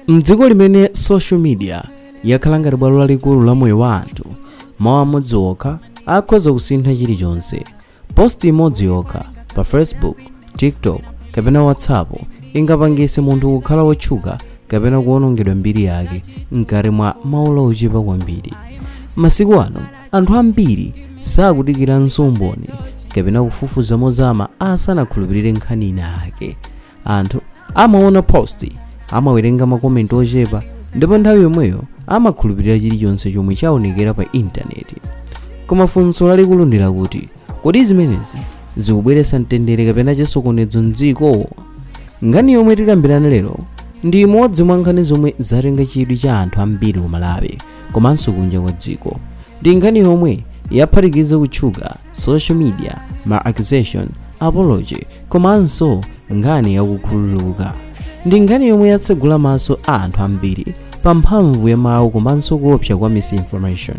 mdziko limene social media yakhala ngati bwalo lalikulu la moyo wa anthu mawu amodzi okha akhoza kusintha chilichonse post imodzi yokha pa facebook tiktok kapena whatsapp ingapangitse munthu kukhala wotchuka kapena kuwonongedwa mbiri yake mkati mwa maola ochepa kwambiri masiku ano anthu ambiri sakudikiranso umboni kapena kufufuza mozama asanakhulupirire nkhani ina ake anthu amaona post amawerenga makomenti ochepa ndipo nthawi yomweyo amakhulupirira chilichonse chomwe chaonekera pa intaneti koma funso lalikulu ndi lakuti kodi zimenezi zikubweretsa mtendere kapena chisokonezo mdziko nkhani yomwe tikambirana lero ndi imodzi mwa nkhani zomwe zatenga chidwi cha anthu ambiri ku malawi komanso kunja kwa dziko ndi nkhani yomwe yaphatikiza kutchuka social media ma accusation apology komanso nkhani yakukhululuka ndi nkhani yomwe yatsegula maso a anthu ambiri pa mphamvu ya mawu komanso kuopsa kwa misinformation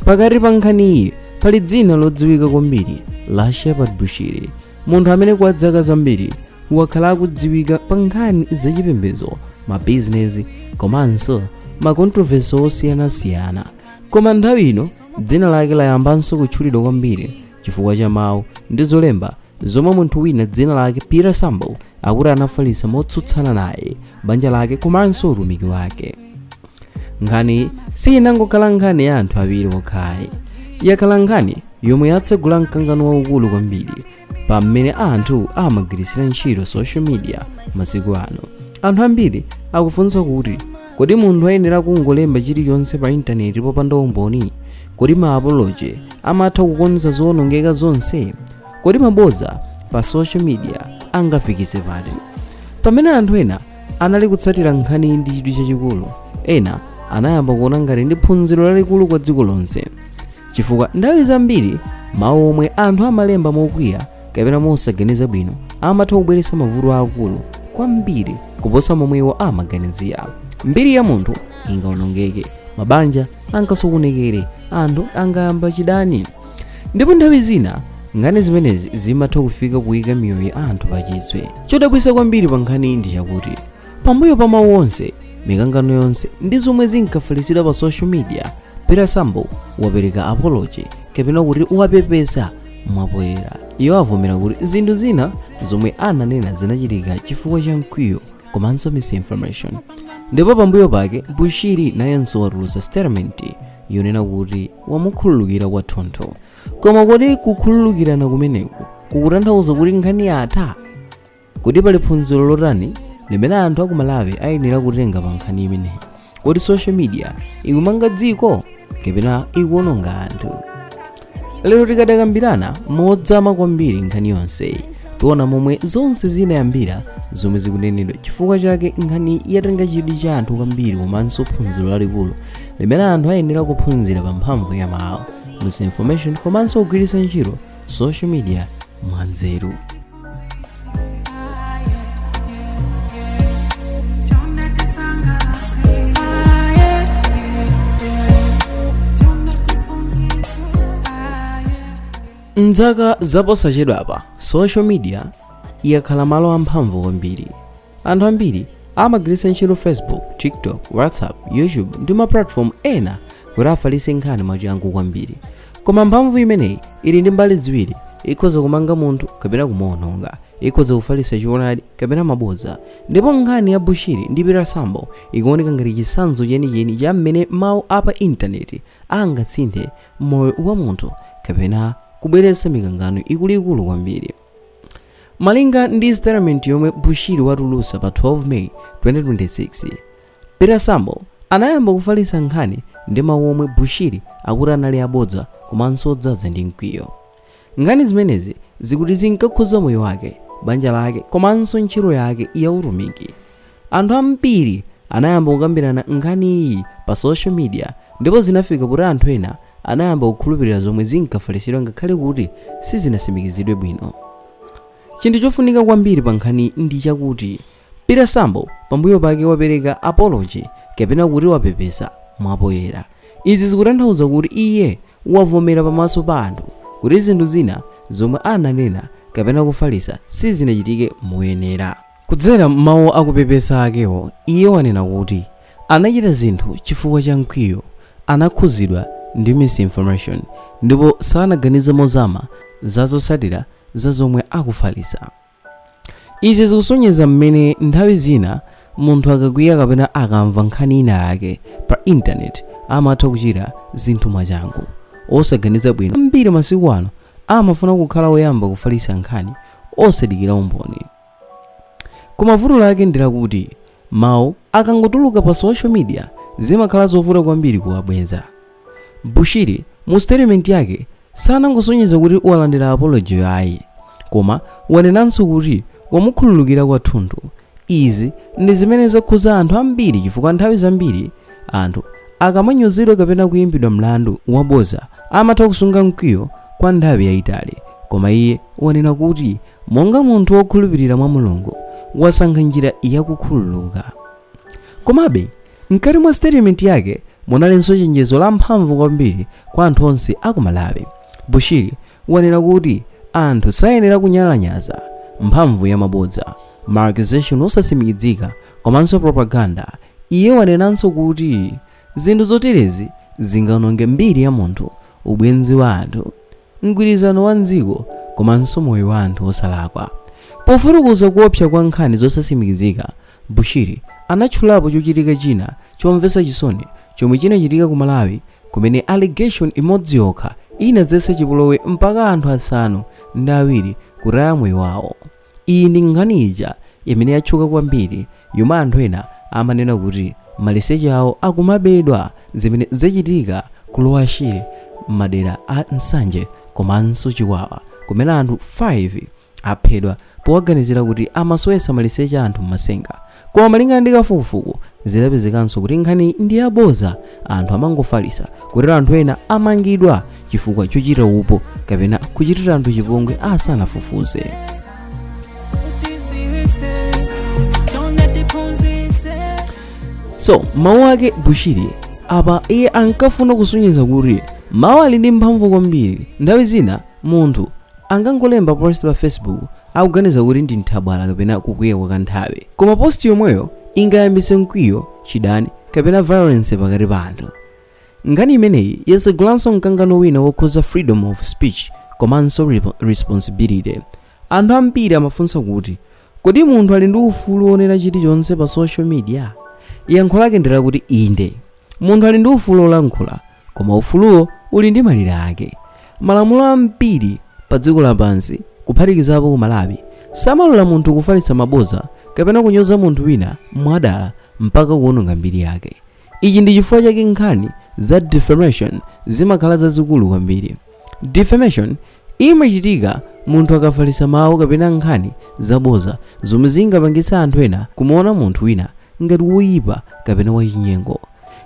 pakati pa nkhaniyi pali dzina lodziwika kwambiri la shepherd bushiri munthu amene kwa dzaka zambiri wakhala akudziwika pa nkhani zachipembedzo mabizinesi komanso makontroversi osiyanasiyana koma nthawi ino dzina lake layambanso kutchulidwa kwambiri chifukwa cha mawu ndi zolemba zomwe munthu wina dzina lake peter sambo akuti anafalitsa motsutsana naye banja lake komanso utumiki wake nkhani sinangokhala nkhani ya anthu awiri okha ayi yakhala nkhani yomwe yatsegula mkangano waukulu kwambiri pa mmene anthu amagwiritsira ntchito social media masiku ano anthu ambiri akufunsa kuti kodi munthu ayenera kungolemba chilichonse pa intaneti popanda umboni kodi ma apology amatha kukonza zoonongeka zonse kodi maboza pa social media angafikitse pati pamene anthu ena anali kutsatira nkhaniyi ndi chidwi chachikulu ena anayamba kuona ngati ndi phunziro lalikulu kwa dziko lonse chifukwa nthawi zambiri mawu omwe anthu amalemba mokwiya kapena mosaganiza bwino amatha kubweretsa mavuto aakulu kwambiri kuposa momwe iwo amaganizira mbiri ya munthu ingawonongeke mabanja angasokonekere anthu angayamba chidani ndipo nthawi zina nkhani zimenezi zimatha kufika kuyika miyoyo ya anthu pachiswe chodabwitsa kwambiri pa nkhaniyi ndi chakuti pambuyo pa mawu onse mikangano yonse ndi zomwe zinkafalitsidwa pa social media peter sambo wapereka apology kapena kuti wapepesa mwapoyera iwo avomera kuti zinthu zina zomwe ananena zinachitika chifukwa cha mkwiyo komanso misinformation ndipo pambuyo pake bushiri nayenso watulutsa statement yonena kuti wamukhululukira kwathunthu koma kodi kukhululukirana kumeneku kukutanthauza kuti nkhani yatha kodi pali phunziro lotani limene anthu akumalawi ayenera kutenga pa nkhani imeneyi kodi social media ikumanga dziko kapena ikuononga anthu lero tikambirana modzama kwambiri nkhani yonseyi tiona momwe zonse zinayambira zomwe zikunenedwa chifukwa chake nkhani yatenga chidwi cha anthu kwambiri komanso phunziro lalikulu limene anthu ayenera kuphunzira pa mphamvu ya mawu misinformation komanso kugwiritsa ntchito social media mwanzeru m'zaka zaposachedwapa social media yakhala malo amphamvu kwambiri anthu ambiri amagwiritsa ntchito facebook tiktok whatsapp youtube ndi ma platform ena kuti afalitse nkhani mwachangu kwambiri koma mphamvu imeneyi ili ndi mbali ziwiri ikhoza kumanga munthu kapena kumuononga ikhoza kufalitsa choonadi kapena mabodza ndipo nkhani ya bushiri ndi peter sambo ikuoneka ngati chitsanzo chenicheni cha mmene mawu a pa intaneti angasinthe moyo wa munthu kapena kubweretsa mikangano ikuluikulu kwambiri malinga ndi statement yomwe bushiri watulutsa pa 12 may 2026 peter sambo anayamba kufalitsa nkhani ndi mawu omwe bushiri akuti anali abodza komanso odzaza ndi mkwiyo nkhani zimenezi zikuti zinkakhuza moyo wake banja lake komanso ntchito yake ya utumiki Anthu ambiri anayamba kukambirana nkhaniyi pa social media ndipo zinafika kuti anthu ena anayamba kukhulupirira zomwe zinkafalitsidwa ngakhale kuti sizinatsimikizidwe bwino. Chinthu chofunika kwambiri pa nkhaniyi ndi chakuti Peter Sambo pambuyo pake wapereka apology kapena kuti wapepesa mwapoyera. Izi zikutanthauza kuti iye wavomera pamaso pa anthu kuti zinthu zina zomwe ananena kapena kufalitsa sizinachitike moyenera. Kudzera m'mawu a kupepesa akewo, iye wanena kuti anachita zinthu chifukwa cha mkwiyo, anakhudzidwa ndi misinformation, ndipo sanaganize mozama za zotsatira za zomwe akufalitsa. Izi zikusonyeza mmene nthawi zina munthu akakwiya kapena akamva nkhani inayake pa Intaneti amatha kuchita zinthu mwachangu, osaganiza bwino. Ambiri masiku ano amafuna kukhala oyamba kufalitsa nkhani osadikira umboni. Koma vuto lake ndi lakuti mawu akangotuluka pa social media zimakhala zovuta kwambiri kuwabweza. Bushiri mu statement yake sanangosonyeza kuti walandira apology-yo ayi, koma wanenanso kuti wamukhululukira kwathunthu. Izi ndi zimene zakhudza anthu ambiri chifukwa nthawi zambiri anthu akamanyozedwa kapena kuimbidwa mlandu wabodza amatha kusunga mkwiyo kwa nthawi yaitali. Koma iye wanena kuti Monga munthu wokhulupirira mwa Mulungu, wasankha njira ya kukhululuka. Komabe, mkati mwa statement yake munalinso chenjezo lamphamvu kwambiri kwa anthu onse a ku Malawi. Bushiri wanena kuti anthu sayenera kunyalanyaza mphamvu ya mabodza, ma accusation osatsimikizika komanso propaganda. Iye wanenanso kuti zinthu zoterezi zingaononge mbiri ya munthu, ubwenzi wa anthu, mgwirizano wa m'dziko komanso moyo wa anthu osalakwa. Pofotokoza kuopsa kwa nkhani zosatsimikizika, Bushiri anatchulapo chochitika china chomvetsa chisoni chomwe chinachitika ku Malawi kumene allegation imodzi yokha inadzetsa chipolowe mpaka anthu asanu ndi awiri kutaya moyo wawo. Iyi ndi nkhani ija imene yatchuka kwambiri yomwe anthu ena amanena kuti maliseche awo akumabedwa zimene zachitika ku Lower Shire m'madera a Nsanje komanso Chikwawa kumene anthu 5 aphedwa powaganizira kuti amasowetsa maliseche a anthu m'matsenga Koma malingana ndi kafukufuku, zidapezekanso kuti nkhaniyi ndi yabodza, anthu amangofalitsa kotero anthu ena amangidwa chifukwa chochita upo kapena kuchitira anthu chipongwe asanafufuze. So mawu ake Bushiri apa iye ankafuna kusonyeza kuti mawu ali ndi mphamvu kwambiri. Nthawi zina munthu angangolemba post pa Facebook akuganiza kuti ndi nthabwala kapena kukwiya kwa kanthawi. Koma post yomweyo ingayambitse mkwiyo, chidani, kapena violence pakati pa anthu. Nkhani imeneyi yatsegulanso mkangano wina wokhudza freedom of speech komanso responsibility. Anthu ambiri amafunsa kuti, kodi munthu ali ndi ufulu wonena chilichonse pa social media? Yankho lake ndi lakuti inde. Munthu ali ndi ufulu wolankhula, Koma ufuluwo uli ndi malire ake. Malamulo ambiri padziko lapansi, kuphatikizapo ku Malawi, samalola munthu kufalitsa mabodza kapena kunyoza munthu wina mwadala mpaka kuwononga mbiri yake. Ichi ndi chifukwa chake nkhani za defamation zimakhala zazikulu kwambiri. Defamation Iyi imachitika munthu akafalitsa mawu kapena nkhani zabodza zomwe zingapangitse anthu ena kumuona munthu wina ngati woipa kapena wachinyengo.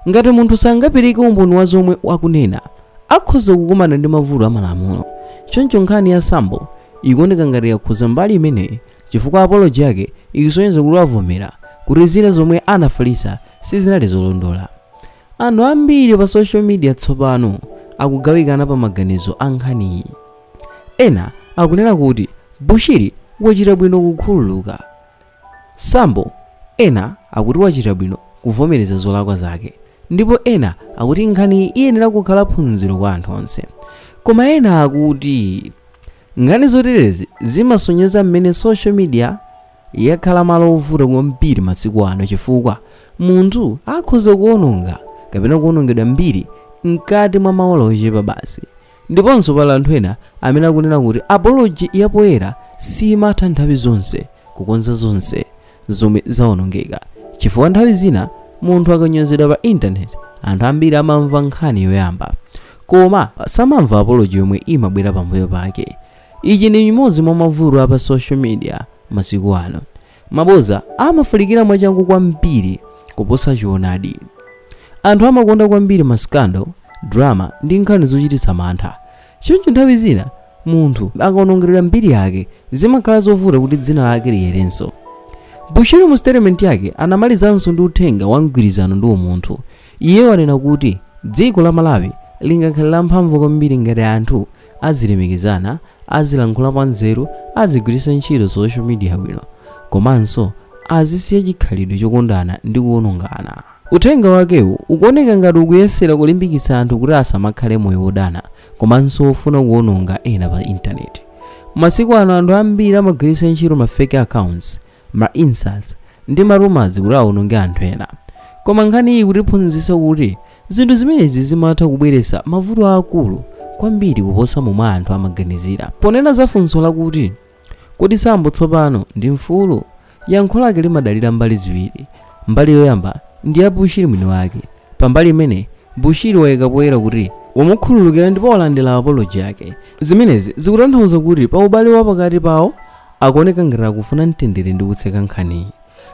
Ngati munthu sangapereke umboni wa zomwe akunena, akhoza kukumana ndi mavuto a malamulo. Choncho nkhani ya Sambo ikuoneka ngati yakhudza mbali imeneyi chifukwa apology yake ikusonyeza kuti wavomera kuti zina zomwe anafalitsa sizinali zolondola. Anthu ambiri pa social media tsopano akugawikana pa maganizo a nkhaniyi. Ena akunena kuti Bushiri wachita bwino kukhululuka Sambo, ena akuti wachita bwino kuvomereza zolakwa zake, ndipo ena akuti nkhaniyi iyenera kukhala phunziro kwa anthu onse. Koma ena akuti nkhani zoterezi zimasonyeza mmene social media. yakhala malo ovuta kwambiri masiku ano chifukwa munthu akhoza kuwononga kapena kuwonongedwa mbiri mkati mwa maola ochepa basi ndiponso pali anthu ena amene akunena kuti apology yapoyera simatha nthawi zonse kukonza zonse zomwe zawonongeka chifukwa nthawi zina munthu akanyozedwa pa intaneti anthu ambiri amamva nkhani yoyamba koma samamva apology yomwe imabwera pambuyo pake Ichi ndi imodzi mwa mavuto a pa social media masiku ano. Mabodza amafalikira mwachangu kwambiri kuposa choonadi. Anthu amakonda kwambiri ma scandal, drama ndi nkhani zochititsa mantha. Choncho nthawi zina munthu akawonongeredwa mbiri yake, zimakhala zovuta kuti dzina lake liyerenso. Bushiri mu statement yake anamalizanso ndi uthenga wa mgwirizano ndi umunthu. Iye wanena kuti dziko la Malawi lingakhale lamphamvu kwambiri ngati anthu azilemekizana, azilankhula mwanzeru, azigwiritsa ntchito social media bwino, komanso azisiya chikhalidwe chokondana ndi kuwonongana. Uthenga wakewu ukuoneka ngati ukuyesera kulimbikitsa anthu kuti asamakhale moyo wodana komanso wofuna kuwononga ena pa intaneti. Masiku ano anthu ambiri amagwiritsa ntchito ma fake accounts ma insults ndi ma rumors kuti awononge anthu ena koma nkhaniyi ikutiphunzitsa kuti zinthu zimenezi zimatha kubweretsa mavuto aakulu kwambiri kuposa momwe anthu amaganizira ponena za funso lakuti kodi sambo tsopano ndi mfulu yankho lake limadalira mbali ziwiri mbali yoyamba ndi ya bushiri mwini wake pambali imene bushiri wayika poyera kuti wamukhululukira ndipo walandira apoloji yake zimenezi zikutanthauza kuti pa ubale wa pakati pawo akuoneka ngati akufuna mtendere ndi kutseka nkhaniyi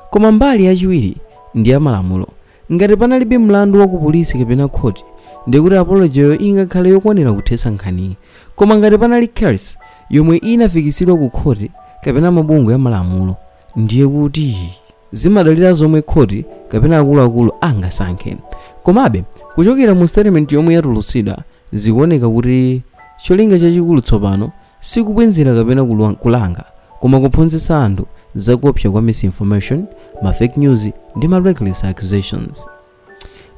koma mbali yachiwiri ndi ya malamulo ngati panalibe mlandu wa ku polisi kapena khoti ndiye kuti apology yo ingakhale yokwanira kuthetsa nkhaniyi koma ngati panali case yomwe inafikitsidwa ku khoti kapena mabungwe ya malamulo ndiye kuti zimadalira zomwe khoti kapena akuluakulu angasankhe komabe kuchokera mu statement yomwe yatulutsidwa zikuoneka kuti cholinga chachikulu tsopano Sikubwenzera kapena kulanga koma kuphunzitsa anthu za kuopsa kwa misinformation, ma fake news ndi ma reckless accusations.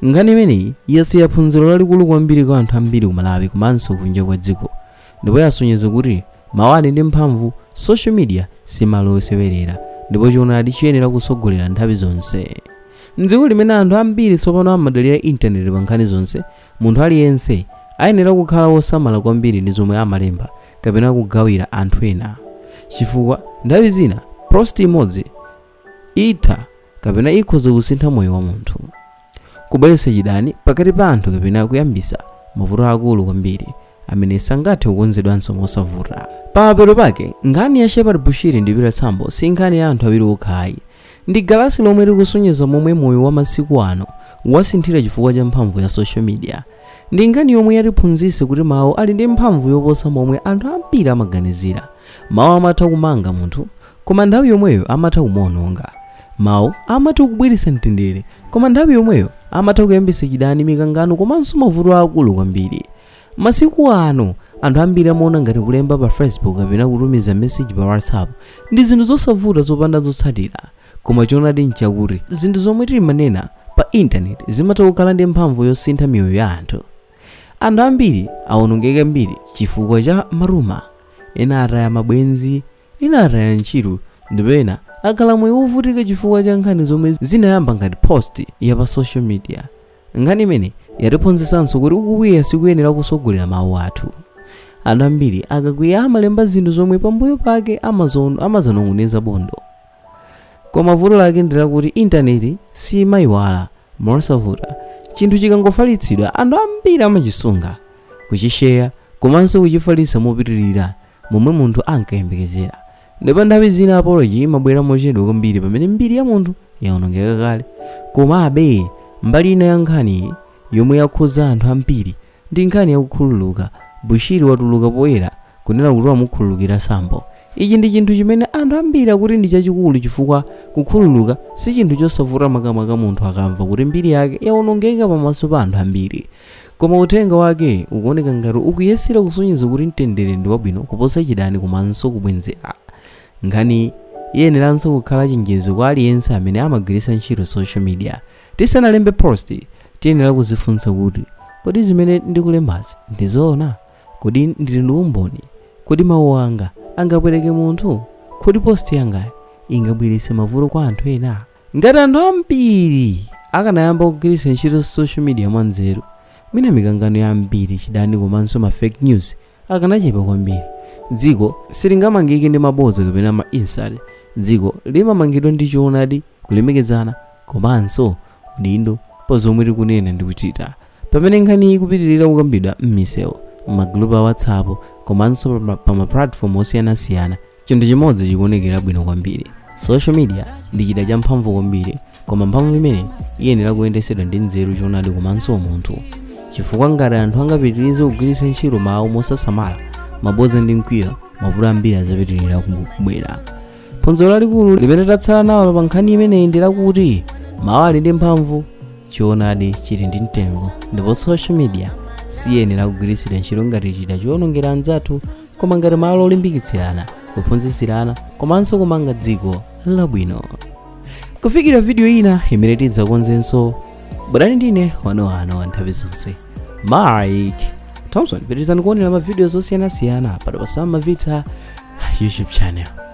Nkhani imeneyi yasiya phunziro lalikulu kwambiri kwa anthu ambiri ku Malawi komanso kunja kwa dziko ndipo yasonyeza kuti mawu ali ndi mphamvu, social media si malo osewerera ndipo choonadi chiyenera kutsogolera nthawi zonse. M'dziko limene anthu ambiri tsopano amadalira intaneti pa nkhani zonse, Munthu aliyense ayenera kukhala wosamala kwambiri ndi zomwe amalemba kapena kugawira anthu ena, chifukwa nthawi zina post imodzi itha kapena ikhoza kusintha moyo wa munthu, kubweretsa chidani pakati pa anthu kapena kuyambitsa mavuto aakulu kwambiri amene sangathe kukonzedwanso mosavuta. Pamapeto pake, nkhani ya Shepherd Bushiri ndi Peter Sambo si nkhani ya anthu awiri okha ayi, Ndi galasi lomwe likusonyeza momwe moyo wa masiku ano wasinthira chifukwa cha mphamvu ya social media. Ndi nkhani yomwe yatiphunzitsa kuti mawu ali ndi mphamvu yoposa momwe anthu ambiri amaganizira. Mawu amatha kumanga munthu, koma nthawi yomweyo amatha kumuononga. Mawu amatha kubweretsa mtendere, koma nthawi yomweyo amatha kuyambitsa chidani, mikangano komanso mavuto aakulu kwambiri. Masiku ano, anthu ambiri amaona ngati kulemba pa Facebook kapena kutumiza message pa WhatsApp ndi zinthu zosavuta zopanda zotsatira. Koma choonadi n'chakuti zinthu zomwe timanena pa intaneti zimatha kukhala ndi mphamvu yosintha miyoyo ya anthu. Anthu ambiri awonongeka mbiri chifukwa cha maruma, ena ataya mabwenzi, Ena ataya ntchito ndipo ena akhala moyo wovutika chifukwa cha nkhani zomwe zinayamba ngati post ya pa social media. Nkhani imeneyi yatiphunzitsanso kuti kukwiya sikuyenera kutsogolera mawu athu. Anthu ambiri akakwiya amalemba zinthu zomwe pambuyo pake amadzanong'oneza bondo. Koma vuto lake ndi lakuti intaneti siimayiwala mosavuta. Chinthu chikangofalitsidwa, anthu ambiri amachisunga, kuchisheya komanso kuchifalitsa mopitirira momwe munthu ankayembekezera. Ndipo nthawi zina apology imabwera mochedwa kwambiri pamene mbiri ya munthu yawonongeka kale. Komabe, mbali ina ya nkhaniyi yomwe yakhudza anthu ambiri ndi nkhani ya kukhululuka. Bushiri watuluka poyera kunena kuti wamukhululukira Sambo. Ichi ndi chinthu chimene anthu ambiri akuti ndi chachikulu chifukwa kukhululuka si chinthu chosavuta makamaka munthu akamva kuti mbiri yake yawonongeka pamaso pa anthu ambiri. Koma uthenga wake ukuoneka ngati ukuyesera kusonyeza kuti mtendere ndi wabwino kuposa chidani komanso kubwenzera. Nkhaniyi iyeneranso kukhala chenjezo kwa aliyense amene amagwiritsa ntchito social media. Tisanalembe post, tiyenera kudzifunsa kuti, Kodi zimene ndikulembazi ndi zoona? Kodi ndili ndi umboni? Kodi mawu anga angapweteke munthu? Kodi post yangayi ingabweretse mavuto kwa anthu ena? Ngati anthu ambiri akanayamba kugwiritsa ntchito social media mwanzeru, mwina mikangano yambiri, chidani komanso ma fake news akanachepa kwambiri. Dziko silingamangike ndi mabodza kapena ma insult. Dziko limamangidwa ndi choonadi, kulemekezana komanso udindo pa zomwe tikunena ndi kuchita. Pamene nkhaniyi ikupitirira kukambidwa m'misewu, m'magulupu a WhatsApp komanso pa ma platform osiyanasiyana, chinthu chimodzi chikuonekera bwino kwambiri social media ndi chida champhamvu kwambiri koma mphamvu imeneyi iyenera kuyendetsedwa ndi nzeru choonadi komanso umunthu chifukwa ngati anthu angapitirize kugwiritsa ntchito mawu mosasamala mabodza ndi mkwiyo mavuto ambiri adzapitirira kubwera phunziro lalikulu limene tatsala nalo pa nkhani imeneyi ndi lakuti mawu ali ndi mphamvu choonadi chili ndi mtengo ndipo social media siyenera kugwiritsidwa ntchito ngati chida choonongera anzathu koma ngati malo olimbikitsirana kuphunzitsirana komanso kumanga dziko labwino kufikira vidiyo ina imene tidzakonzenso bwerani ndine wanuwanu wa nthawi zonse mike thompson pitirizani kuonera mavidiyo osiyanasiyana pano pa Sam Mavita youtube channel